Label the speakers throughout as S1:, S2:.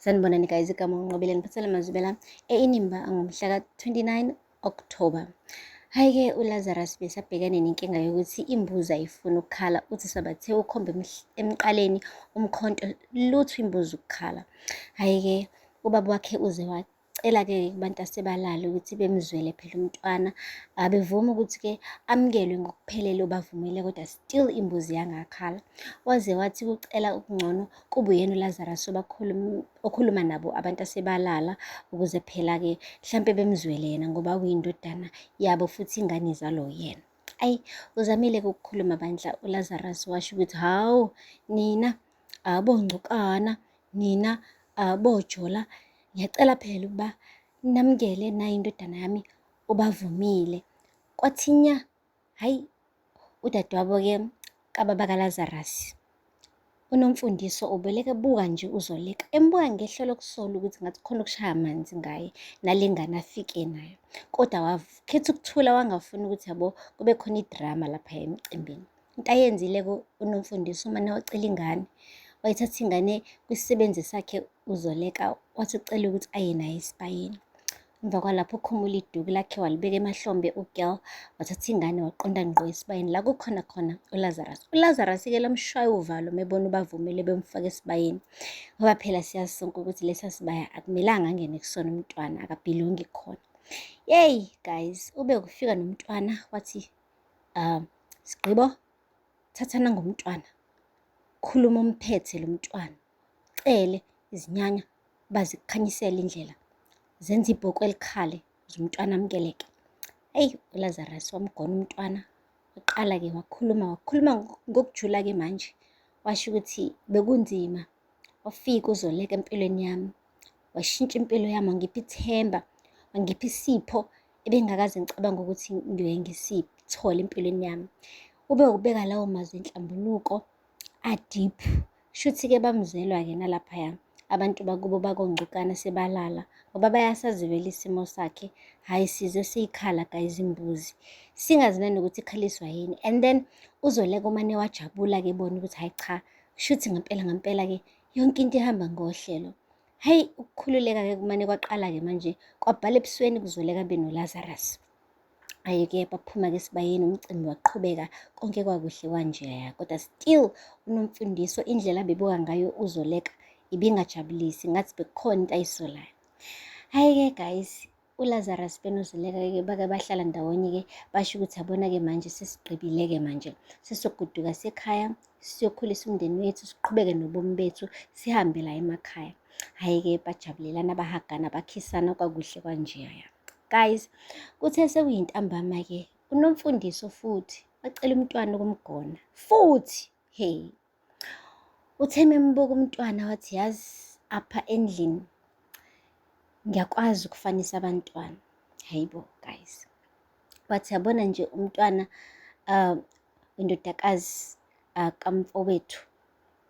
S1: Sanibonani guys, igama uNqobile ngiphathele amazwibela einimba ngomhla ka-29 October. Hhayi-ke uLazarus besabhekene nenkinga yokuthi imbuzi ayifuni ukukhala, uthi sabathe ukhombe emqaleni umkhonto lutho imbuzi ukukhala. Hhayi-ke ubaba wakhe uze Cela-ke kubantu asebalala ukuthi bemzwele phela umntwana, abevumi ukuthi-ke amukelwe ngokuphelele obavumile kodwa still imbuzi yangakhala. Waze wathi kucela ukungcono kube uyena uLazarus okhuluma nabo abantu asebalala ukuze phela-ke mhlampe bemzwele yena ngoba uyindodana yabo futhi ingane izalo yena. Ayi uzamile ukukhuluma bandla uLazarus washo ukuthi hawu nina abongcukana nina abojola ngiyacela phela ukuba namukele nayi indodana yami ubavumile kwathi nya hayi udadewabo ke kababa kaLazarus unomfundiso ubeleke buka nje uzoleka embuka ngehlo lokusola ukuthi ngathi khona ukushaya amanzi ngaye nalengane afike nayo kodwa wakhetha ukuthula wangafuni ukuthi yabo kube khona idrama lapha emcimbini into ayenzile unomfundisi umane wacela ingane wayithatha ingane kwisisebenzi sakhe uzoleka wathi ucela ukuthi aye naye esibayeni emva kwalapho ukhumula iduku lakhe walibeka emahlombe ugirl wathatha ingane waqonda ngqo esibayeni la kukhona khona ulazarus ulazarus-ke lomshwayo uvalo mebona ubavumile bemfaka esibayeni ngoba phela siyazi sonke ukuthi lesa sibaya akumelanga angene kusona umntwana akabhilongi khona yeyi guys ube kufika nomntwana wathi um sigqibo thathana ngomntwana khuluma umphethe lo mntwana cele izinyanya bazikukhanyisele indlela zenza ibhoku elikhale zomntwana amukeleke eyi ulazarus wamgona umntwana waqala-ke wakhuluma wakhuluma ngokujula-ke manje washo ukuthi bekunzima wafika uzoleka empilweni yami washintsha impilo yami wangipha ithemba wangipha isipho ebengakaze ngicabanga ukuthi ngiyoye ngisithole empilweni yami ube ukubeka lawo mazwi enhlambuluko adeep shuthi-ke bamzelwa-ke nalaphaya abantu bakubo bakongcukana sebalala ngoba bayasazivela isimo sakhe hhayi size siyikhala guys imbuzi singazi nanokuthi ikhaliswa yini and then uzoleka umane wajabula-ke bona ukuthi hhayi cha Shuthi ngempela ngempela-ke yonke into ihamba ngohlelo. Hhayi ukukhululeka-ke kumane kwaqala-ke manje kwabhala ebusweni kuzoleka be noLazarus. Aye-ke baphuma-ke esibayeni umcimbi waqhubeka konke kwakuhle kwanjeya kodwa still unomfundiso indlela abebuka ngayo uzoleka ibingajabulisi ngathi bekukhona into ayisolayo. Hhayi-ke guys uLazarus benoZileka-ke bake bahlala ndawonye-ke basho ukuthi yabona-ke manje sesigqibile-ke manje sesoguduka sekhaya siyokhulisa umndeni wethu siqhubeke nobomi bethu sihambe la emakhaya hhayi-ke bajabulelana bahagana bakhisana kwakuhle kwanjeya guys kuthe sekuyintambama-ke unomfundiso futhi wacela umntwana ukumgona futhi hey Uthe membuka umntwana wathi yazi apha endlini ngiyakwazi ukufanisa abantwana hayibo guys wathi yabona nje umntwana um indodakazi uh, kamfowethu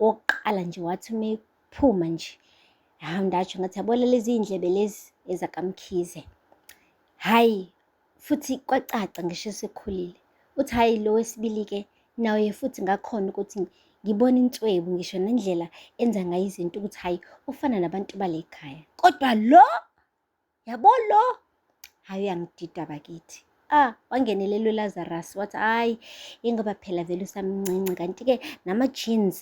S1: wokuqala nje wathi uma ephuma nje hawu ndatsho ngathi yabona lezi iy'ndlebe lezi ezakamkhize hhayi futhi kwacaca ngisho esekhulile uthi hhayi lo wesibili-ke naye futhi ngakhona ukuthi ngibona inswebu ngisho nendlela enza ngayo izinto ukuthi hhayi ufana nabantu bale khaya kodwa lo yabo lo hhayi uyangidida bakithi ah wangenelelwe lazarus wathi hhayi ingoba phela vele usamncinci kanti-ke nama-jeans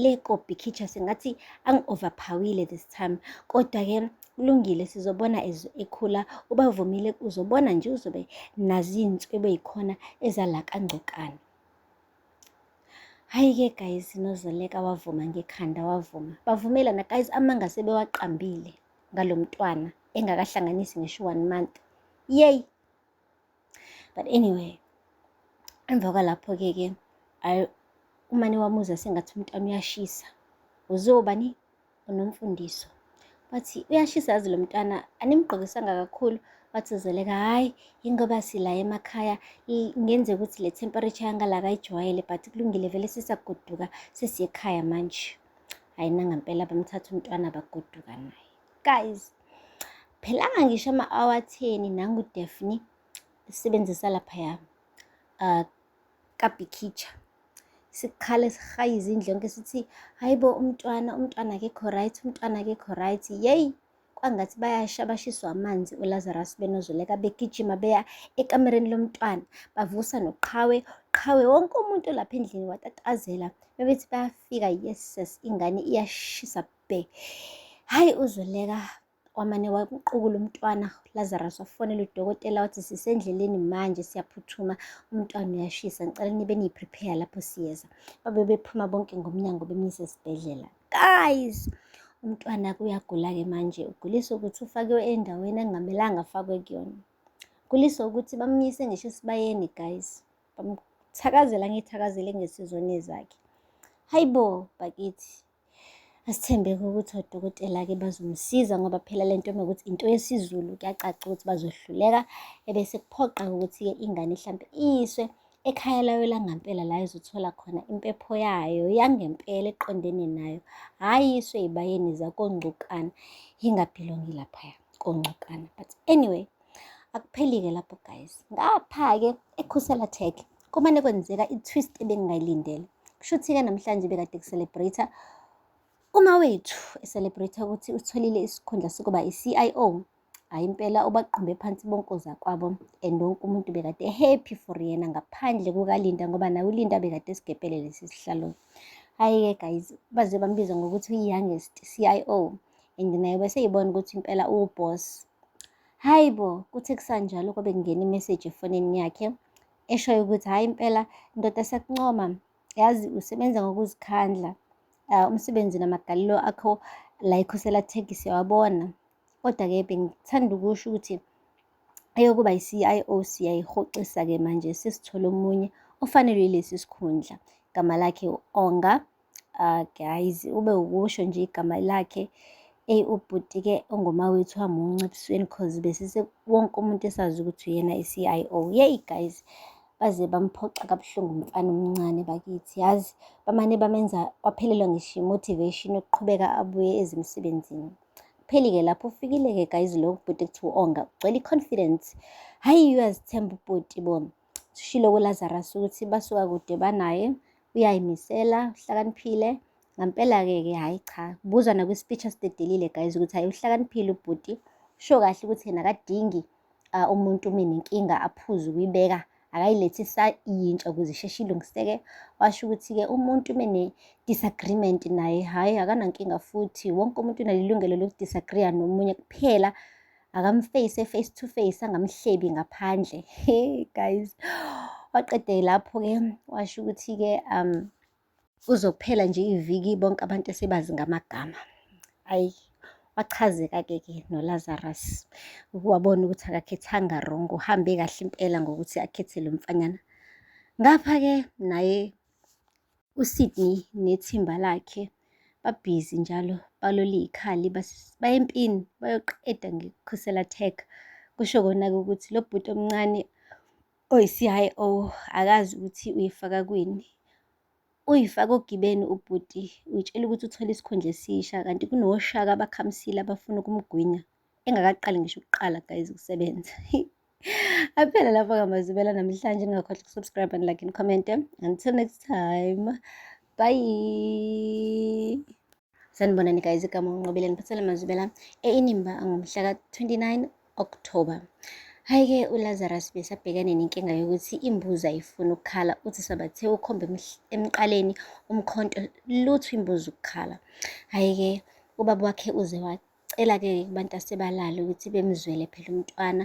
S1: le kobhikhicha sengathi angi-overphawile this time kodwa-ke kulungile sizobona as ekhula ubavumile uzobona nje uzobe nazintswe beyikhona ezala kangcokana hayi ke guys nozoleka wavuma ngekhanda wavuma bavumelana guys amanga sebewaqambile ngalomntwana engakahlanganisi ngisho one month yay but anyway emva kwalapho ke ke umane wamuza sengathi umntwana uyashisa uzobani unomfundiso wathi uyashisa yazi lo mntwana animgqokisanga kakhulu wathuzeleka hhayi yingoba sila emakhaya ngenze ukuthi le temperature yangala kayijwayele but kulungile vele sisagoduka sesiye ekhaya manje hhayi nangampela bamthatha umntwana bagoduka naye guys phelanga ngisho ama-awatheni nangu-defni sisebenzisa laphaya um uh, kabhikhitsha sikhale sihaye izindlu yonke sithi hayi bo umntwana umntwana akekho right umntwana akekho right yeyi kwangathi bayasha bashiswa amanzi ulazarus benozoleka begijima beya ekamereni lomntwana bavusa noqhawe qhawe wonke umuntu lapha endlini watatazela bebethi bayafika yeses ingane iyashisa bhe hhayi uzoleka wamane waqukula umntwana Lazarus wafonela udokotela wathi sisendleleni manje siyaphuthuma umntwana uyashisa ngicela nibe niyiprepare lapho siyeza babe bephuma bonke ngomnyango bemyise esibhedlela guys umntwana kuyagula-ke manje uguliswa ukuthi ufakiwe endaweni angamelanga afakwe kuyona uguliswa ukuthi bamyise ngisho esibayeni guys bamthakazela ngithakazele ngesizoni zakhe hayi bo bakithi Asithembeke ukuthi odokotela-ke bazomsiza ngoba phela le nto mekuthi into yesiZulu kuyacaca ukuthi bazohluleka ebese kuphoqa ukuthi-ke ingane hlampe iyiswe ekhaya layo langampela la izothola khona impepho yayo yangempela eqondene nayo hhayi iswe yibayeni zakongcukana ingabhilongi laphaya kongcukana but anyway akupheli-ke lapho guys ngapha-ke ekhusela tech Kumane kwenzeka i-twist ebengingayilindele. Kushuthi-ke namhlanje bekade ku-celebrate uma wethu e-celebrate ukuthi utholile isikhundla sokuba i-CIO. Hhayi impela ubaqumbe phansi bonke ozakwabo and wonke umuntu bekade happy for yena ngaphandle kukaLinda ngoba naye uLinda bekade esigebhele lesi sihlalo. Hhayi-ke guys baze bambiza ngokuthi uyi-youngest CIO and naye bese yibona ukuthi impela uwuboss. Hhayi bo, kuthe kusanjalo kwabe kungena imeseji efonini yakhe eshoyo ukuthi hhayi impela ndoda siyakuncoma yazi usebenza ngokuzikhandla uh, umsebenzi namagalelo akho la ikhosela thegi siyawabona kodwa-ke bengithanda ukusho ukuthi eyokuba yi-CIO siyayihoxisa-ke manje sesithole omunye ofanelwe lesi sikhundla gama lakhe u-Onga Ah guys, ube ukusho nje igama lakhe. Eyi ubhuti ke ongoma wethu wamunca ebusweni cause besise wonke umuntu esazi ukuthi uyena i-CIO. Yeyi guys, baze bamphoxa kabuhlungu umfana omncane bakithi. Yazi bamane bamenza waphelelwa ngisho i-motivation yokuqhubeka abuye ezimsebenzini. Kupheli-ke lapho ufikile-ke guys lo bhuti ekuthiwa onga ugcwele i-confidence. Hhayi uyazithemba ubhuti bona. sishilo kuLazarus ukuthi basuka kude banaye uyayimisela uhlakaniphile ngampela-ke ke hhayi cha kubuzwa nakwi-speech asidedelile guys ukuthi hhayi uhlakaniphile ubhuti usho kahle ukuthi yena akadingi uh, umuntu uma nenkinga aphuze ukuyibeka akayilethi sayintsha ukuze isheshe ilungiseke washo ukuthi-ke umuntu uma ne-disagreement naye hhayi akanankinga futhi wonke umuntu unalilungelo lokudisagreeya nomunye kuphela akamface face to face angamhlebi ngaphandle hey guys waqede lapho-ke washo ukuthi-ke um uzokuphela nje iviki bonke abantu esebazi ngamagama ayi wachazeka-ke ke nolazarus wabona ukuthi akakhethanga wrong uhambe kahle impela ngokuthi akhethe lo mfanyana ngapha-ke naye USydney nethimba lakhe babhizi njalo balole ikhali baya empini bayoqeda ngekhusela tech kusho kona-ke ukuthi lo bhuti omncane oyi-CIO akazi ukuthi uyifaka kwini uyifaka ogibeni ubhuti uyitshela ukuthi uthole isikhundla esisha kanti kunoshaka abakhamisile abafuna ukumgwinya. engakaqali ngisho ukuqala guys ukusebenza aphela lapho kamazibela namhlanje ningakhohlwa ukusubscribe and like and comment until next time bye sanibonani guys igama unqobile ngiphathele mazibela einimba angomhla ka-29 october Hhayi-ke uLazarus besabhekane nenkinga yokuthi imbuzi ayifuni ukukhala, uthi sabathe ukhomba emqaleni umkhonto lutho imbuzi ukukhala. Hhayi-ke ubaba wakhe uze wacela-ke kubantu asebalale ukuthi bemzwele phela umntwana